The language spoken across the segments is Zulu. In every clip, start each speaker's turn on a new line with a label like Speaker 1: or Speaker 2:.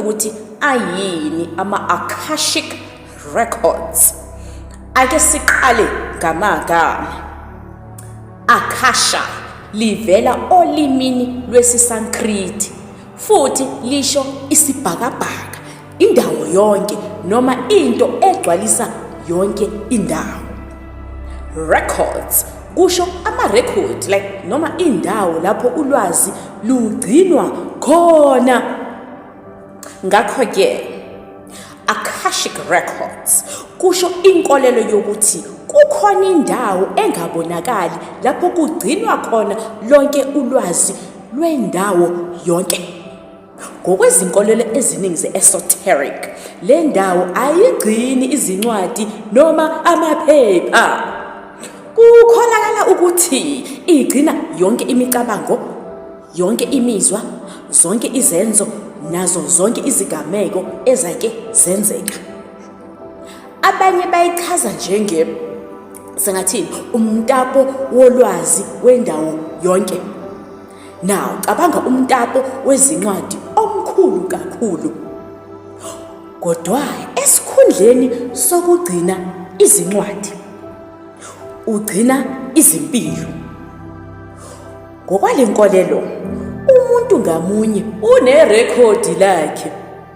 Speaker 1: ukuthi ayini ama-akashic records ake siqale ngamagama akasha livela olimini lwesisankriti futhi lisho isibhakabhaka indawo yonke noma into egcwalisa yonke indawo records kusho amarekhodi like noma indawo lapho ulwazi lugcinwa khona ngakho-ke akashic records kusho inkolelo yokuthi kukhona indawo engabonakali lapho kugcinwa khona lonke ulwazi lwendawo yonke ngokwezinkolelo eziningi ze-esoteric le ndawo ayigcini izincwadi noma amaphepha kukholakala ukuthi igcina yonke imicabango Yonke imizwa, zonke izenzo nazo zonke izigameko ezake zenzeka. Abanye bayichaza njenge sengathini umtapo wolwazi wendawo yonke. Now cabanga umtapo wezincwadi omkhulu kakhulu. Kodwa esikhundleni sokugcina izincwadi ugcina izimpilo. Ngokwale nkolelo, umuntu ngamunye unerekhodi lakhe.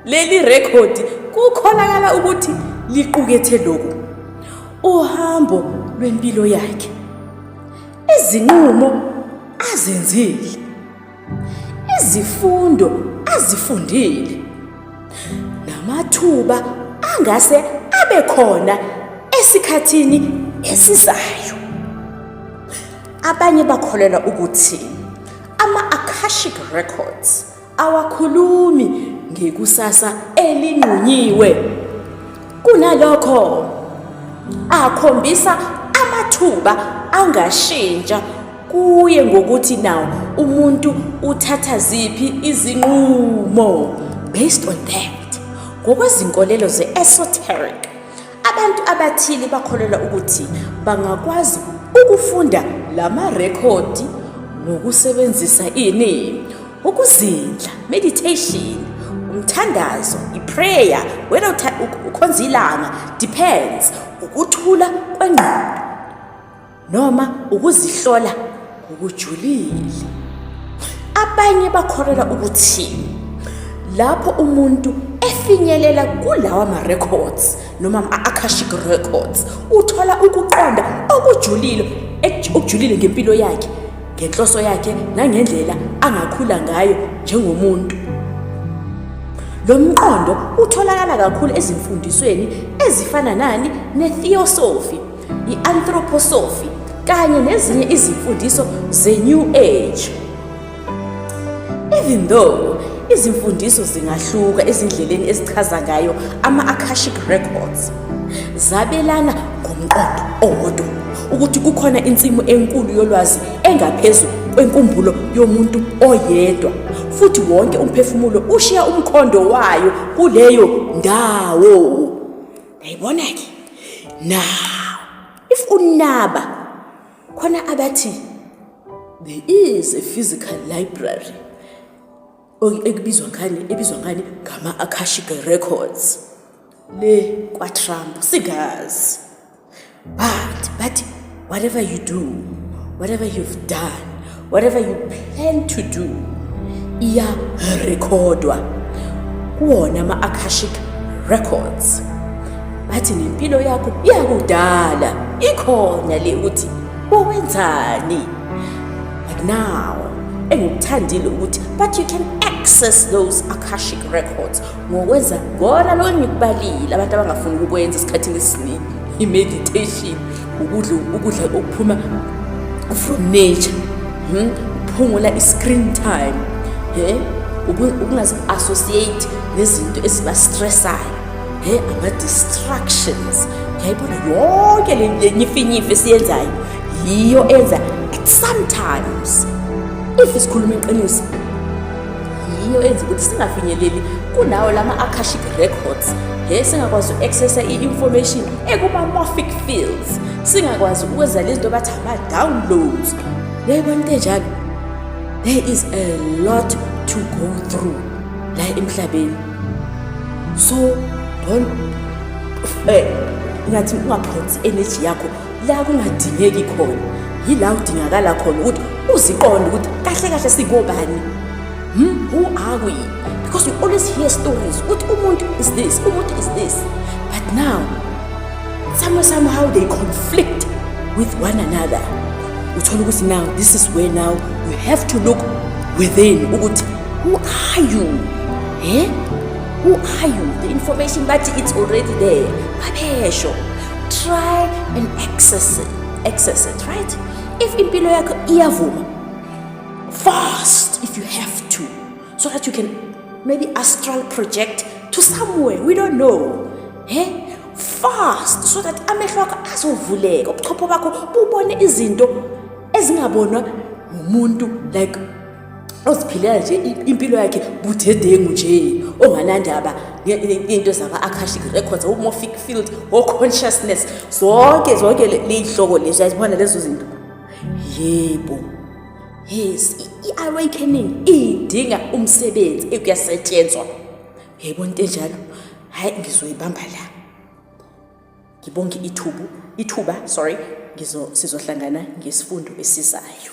Speaker 1: Leli rekhodi kukholakala ukuthi liqukethe lokhu, uhambo lwempilo yakhe, izinqumo azenzile, izifundo azifundile, namathuba angase abe khona esikhathini esizayo. Abanye bakholelwa ukuthi ama-Akashic Records awakhulumi ngekusasa elinqunyiwe. Kunalokho, akhombisa amathuba angashintsha kuye ngokuthi nawo umuntu uthatha ziphi izinqumo based on that ngokwezinkolelo ze-esoteric Abantu abathile bakholelwa ukuthi bangakwazi ukufunda la marekhodi ngokusebenzisa ini ukuzindla meditation umthandazo iprayer wena ukhonza ilanga depends ukuthula kwengqondo noma ukuzihlola ngokujulile. Abanye bakholelwa ukuthi lapho umuntu efinyelela kulawa ma-records noma ama-akashic records uthola ukuqonda okujulile ek- okujulile ngempilo yakhe ngenhloso yakhe nangendlela angakhula ngayo njengomuntu lo mqondo utholakala kakhulu ezimfundisweni ezifana nani netheosophy i-anthroposophy kanye nezinye izimfundiso ze-new age even though izimfundiso zingahluka ezindleleni ezichaza ngayo ama-akashic records zabelana ngomqondo owodwa ukuthi kukhona insimu enkulu yolwazi engaphezu kwenkumbulo yomuntu oyedwa futhi wonke umphefumulo ushiya umkhondo wayo kuleyo ndawo Yayibona ke. Now, if unaba khona abathi there is a physical library ekubizwa ngani ebizwa ngani ngama Akashic Records le kwa Trump sigazi But, but, whatever you do, whatever you've done, whatever you plan to do, iyarekhodwa kuwona ama-akashic records bathi nempilo yakho iyakudala ikhona le ukuthi wawenzani but now engikuthandile ukuthi but you can access those akashic records ngokwenza kona lokho engikubalile abantu abangafuni ukukwenza esikhathini esiningi i-meditation ukudla ukudla okuphuma from nature hmm? ukuphungula i-screen time he ukungazi-associate nezinto eziba-stressayo he ama-distractions yayibona yonke le nyifinyifi esiyenzayo yiyo enza at sometimes if isikhuluma iqiniso yiyo enza ukuthi singafinyeleli kunawo lama akashic records he singakwazi uaccessa i-information ekuma-morphic fields singakwazi ukwenza lezi nto bathi ama-downloads yayibona into enjalo there is a lot to go through la emhlabeni so don't eh, ngathi ungaphonsi energy yakho la kungadingeki khona yila udingakala khona ukuthi uziqonde ukuthi kahle kahle sikobani hmm? who are we because we always hear stories ukuthi umuntu is this umuntu is this but now somehow somehow they conflict with one another uthole ukuthi now this is where now you have to look within ukuthi who are you eh who are you the information bathi it's already there babesho try and access it, access it right if impilo yakho iyavuma fast if you have to so that you can maybe astral project to somewhere we don't know he eh? fast so that amehlo akho azovuleka ubuchopho bakho bubone izinto ezingabonwa ngumuntu like oziphilela nje impilo yakhe budedengu nje onganandaba into zama-akashic records omorphic field o-consciousness zonke zonke ley'hloko lezo yazibona lezo zinto yebo yes i-awakening idinga umsebenzi ekuyasetshenzwa yebo into enjalo hhayi ngizoyibamba la ngibonge ithubu ithuba sorry sizohlangana ngesifundo esizayo